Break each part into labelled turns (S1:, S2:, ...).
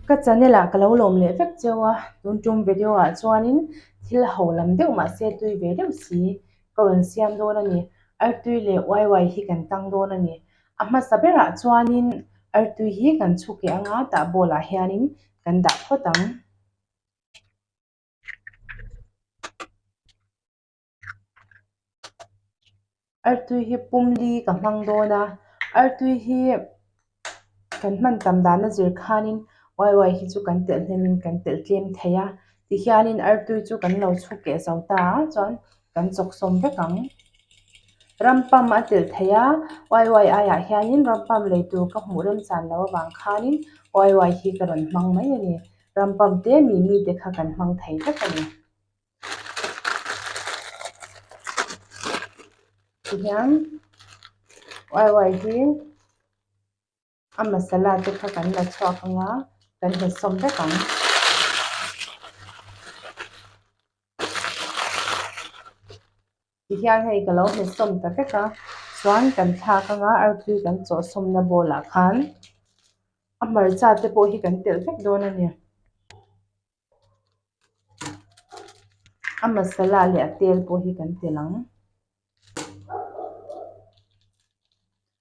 S1: Ka channel ah ka lo lawm leh vek cheu a, tun tum video ah chuanin thil ho lam deuh mah se tui ve deuh si ka rawn siam dawn a ni. Artui leh YY hi kan tang dawn a ni. A hmasa ber ah chuanin Artui hi kan chhuak leh anga tah ball ah hianin kan dah phawt ang. Artui hi pumli ka hmang dawn a artui hi kan hman tam dan a zir khan in uaia hi chu kan telh hnem in kan telh tlem thei a ti hian in artui chu kan lo chhuk leh zo ta a chuan kan chawk sawm vek ang ram pam a telh thei a uaia ai ah hian in ram pam lei tur ka hmuh rem chan lo avang khan in uaia hi ka rawn hmang mai a ni. Ram pump te mi mi te kha kan hmang thei vek a ni. Tihian YY hi a masala te kha kan la chhuak ang a, kan hnathsawm vek ang. Tihian hei ka lo hmetsawm ta vek a, chuan kan thlak anga arpui kan chawhsawmna bawlah khan a hmarcha te pawh hi kan telh vek dawn a ni, a masala leh a tel pawh hi kan telh ang,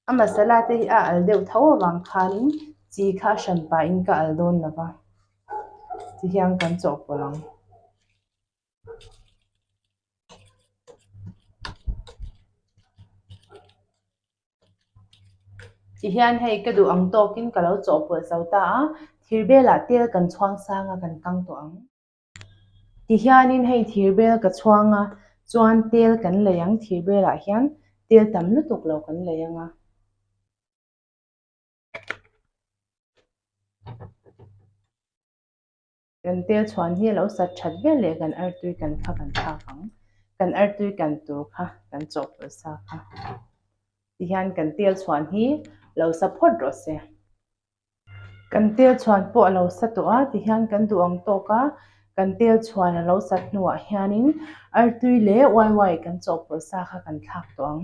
S1: a masala te hi a al deuh tho avang khanin chi kha a hran pahin ka al dawn lo va, tihian kan chawhpawlh ang. Ti hian hei ka duh ang tawk in ka lo chawh bual chau ta a, thir bel ah tel kan chhuang sang a kan kang tawh ang. Ti hian in hei thir bel ka chhuang a chuan tel kan lei ang thir bel ah hian tel tam lutuk lo kan lei ang a. Kan tel chhuan hi a lo sat that viau leh kan artui kan kha kan thlak ang. Kan artui kan tur kha kan chawhpawlh sa kha ti hian kan tel chhuan hi lo sa phawt rawh se. Kan tel chhuan pawh a lo sa tawh a ti hian kan duh ang tawk a, kan tel chhuan a lo sat hnuah hianin artui leh uaia kan chawhpawlh sa kha kan thlak tawh ang.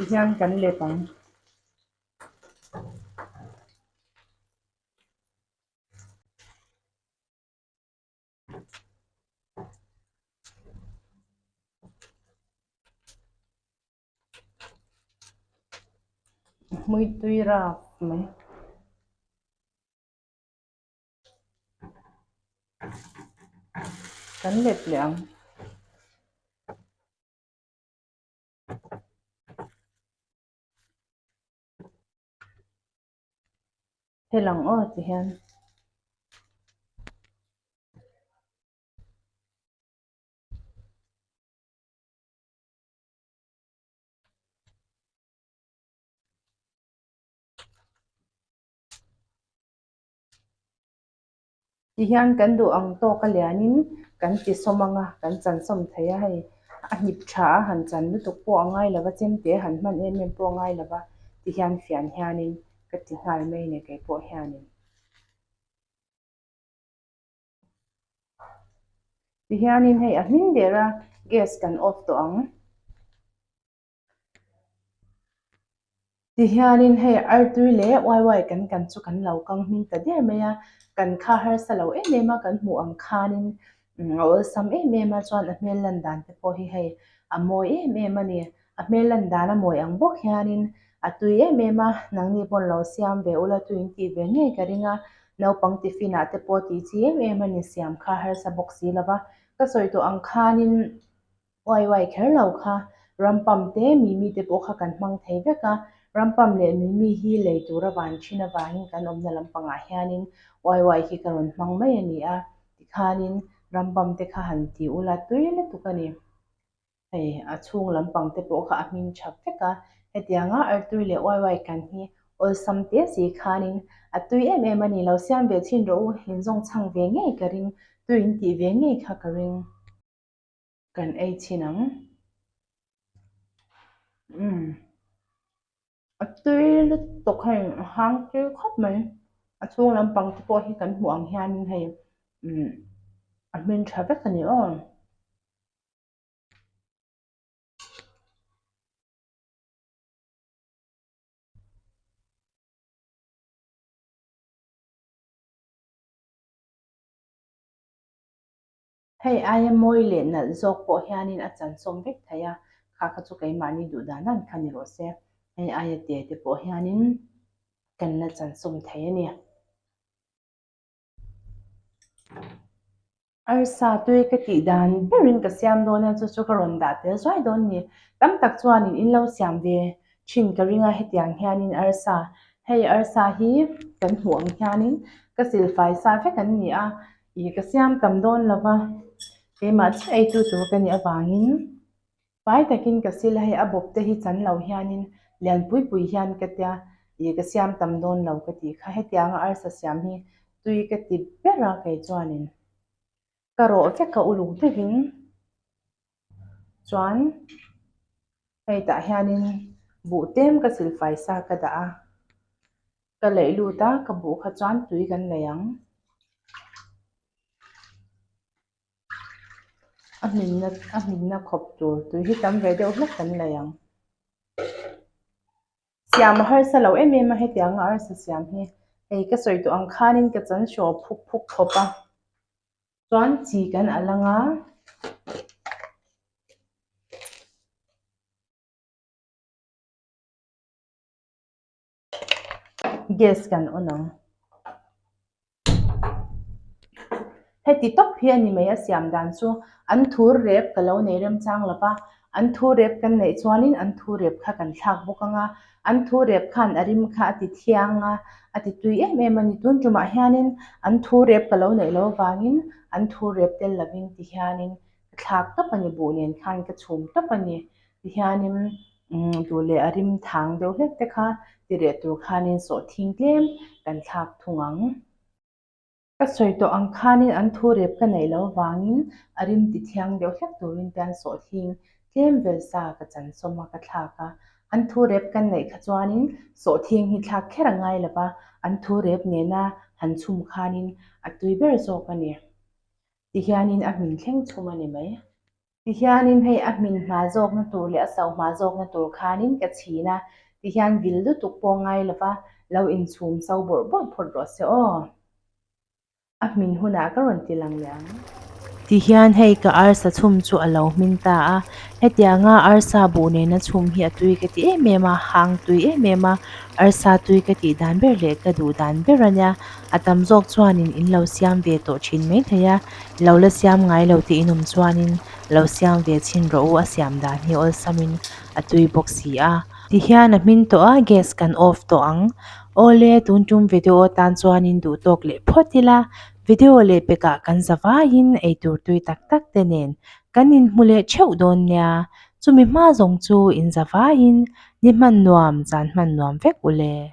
S1: Tihian kan let ang. Hmui tui rak mai. Kan let leh ang. Hel ang aw ti hian. Ti hian kan duh ang tawk a lian in kan ti sawm ang a, kan chansawm thei a hei, a hnip tha a han chan lutuk pawh a ngai lo va, chem te a han hman em em pawh a ngai lo va ti hian fian hian in ka ti nghal mai ne kei pawh hian in. Ti hian in hei a hming der a gas kan off tawh ang. Tihianin hei Artui leh YY kan kan chu kan lo kang hming ta der mai a, kan kha harsa lo em em a, kan hmuh ang khanin a awlsam em em a, chuan a hmel lan dan te pawh hi hei a mawi em em a ni. A hmel lan dan a mawi ang bawk hianin a tui em em a, nangni pawh lo siam ve ula tui in tih ve ngei ka ring a, naupang tiffin ah te pawh tih chi em em a ni siam kha harsa bawk si lo va, ka sawi tawh ang khanin Uai uai kher lo kha. Rampam te Mimi te pawh kha kan hmang thei vek a, Rampam leh Mimi hi lei tura van thin avangin kan awmna lampangah hianin uai uai hi ka rawn hmang mai a ni a tikhanin Rampam te kha han ti ula tui lutuk a ni. Hei a chhung lampang te pawh kha a hming tha vek a, hetianga Artui leh uai uai kan hi awlsam te si khanin a tui em em a ni lo, siam ve chin rawh u, in zawng chhang ve ngei ka ring, tuin tih ve ngei kha ka ring. Kan ei chin ang umm. A tui lutuk hei a hang tir khawp mai a chhung lampang te pawh hi kan hmuh ang hianin hei umm a hmin tha vek a ni aw. Hei aia mawi leh nalh zawk pawh hianin a chansawm vek thei a, kha kha chu keimahni duh dan dan kha ni rawh se, hei aia te te pawh hianin kan la chansawm thei a ni. Arsa tui ka tih dan berin ka siam dawn a, chu chu ka rawn dah tel zuai dawn a ni. Tam tak chuanin in lo siam ve thin ka ring a, hetiang hianin arsa, hei arsa hi kan hmuh ang hianin ka silfai sa vek an ni a. Ih ka siam tam dawn lo va, keimah chu eitu tur ka nih avangin fai takin ka sil a, hei a bawp te hi chan lo hianin lian pui pui hian ka tia, ih ka siam tam dawn lo ka tih kha, hetianga arsa siam hi tui ka ti ber a, kei chuanin ka rawh vek a uluk deuhin Chuan hei tah hianin buh tem ka silfai sa ka dah a, ka laih lut a ka buh kha chuan tui kan nei ang, a hminna a hminna khawp tur tui hi tam ve deuh hlek kan nei ang, siam a harsa lo em em a hetiang anga arsa siam hi, hei ka sawi tawh ang khanin ka chanshaw phuk phuk khawp a. chuan chi kan a lang a gas kan on ang heti tawp hi a ni mai a siam dan chu an thur rep ka lo nei rem chang lo va an thu rep kan neih chuan in an thu rep kha kan thlak bawk ang a. An thu rep khan a rim kha a ti thiang a, a ti tui em em a ni. Tun tumah hianin an thu rep ka lo neih lo vangin an thu rep tel lovin ti hianin ka thlak tawp a ni, buh nen khan ka chhum tawp a ni. Ti hianin umm duh leh a rim thang deuh hlek te kha ti reh tur khanin sawhthing tlem kan thlak thung ang. Ka sawi tawh ang khanin an thu rep ka neih loh avangin a rim ti thiang deuh hlek turin te an sawh thing tlem vel sa ka chansawm a ka thlak a, an thu rep kan neih kha chuanin sawh thing hi thlak kher a ngai lo va, an thu rep nena han chhum khanin a tui ber zawk a ni ti hianin a hmin thleng chhum a ni mai. Tihianin hei a hmin hma zawkna tur leh a sau hma zawkna tur khanin ka chhin a, tihian vil lutuk pawh ngai lova lo inchhum sau bawrh bawrh phawt rawh se aw. A hmin hunah ka rawn ti lang liang. Tihian hei ka arsa chhum chu a lo hmin ta a, hetia nga arsa buh nena chhum hi a tui ka tih em em a, hang tui em em a, arsa tui ka tih dan ber leh ka duh dan ber a nia, a tam zawk chuanin in lo siam ve tawh thin mai thei a. Lo la siam ngai lo tih in awm chuanin lo siam ve chhin rawh u a siam dan hi awlsamin a tui bawk si a. Ti hian a hmin tawh a, gas kan off tawh ang. Awle tun tum ve deuh aw tan chuanin duh tawk leh phawt ila, video leh pekah kan za vaiin eitur tui tak tak te nen kan inhmu leh theuh dawn nia, chumi hma zawng chu in za vaiin ni hman nuam, zan hman nuam vek u le.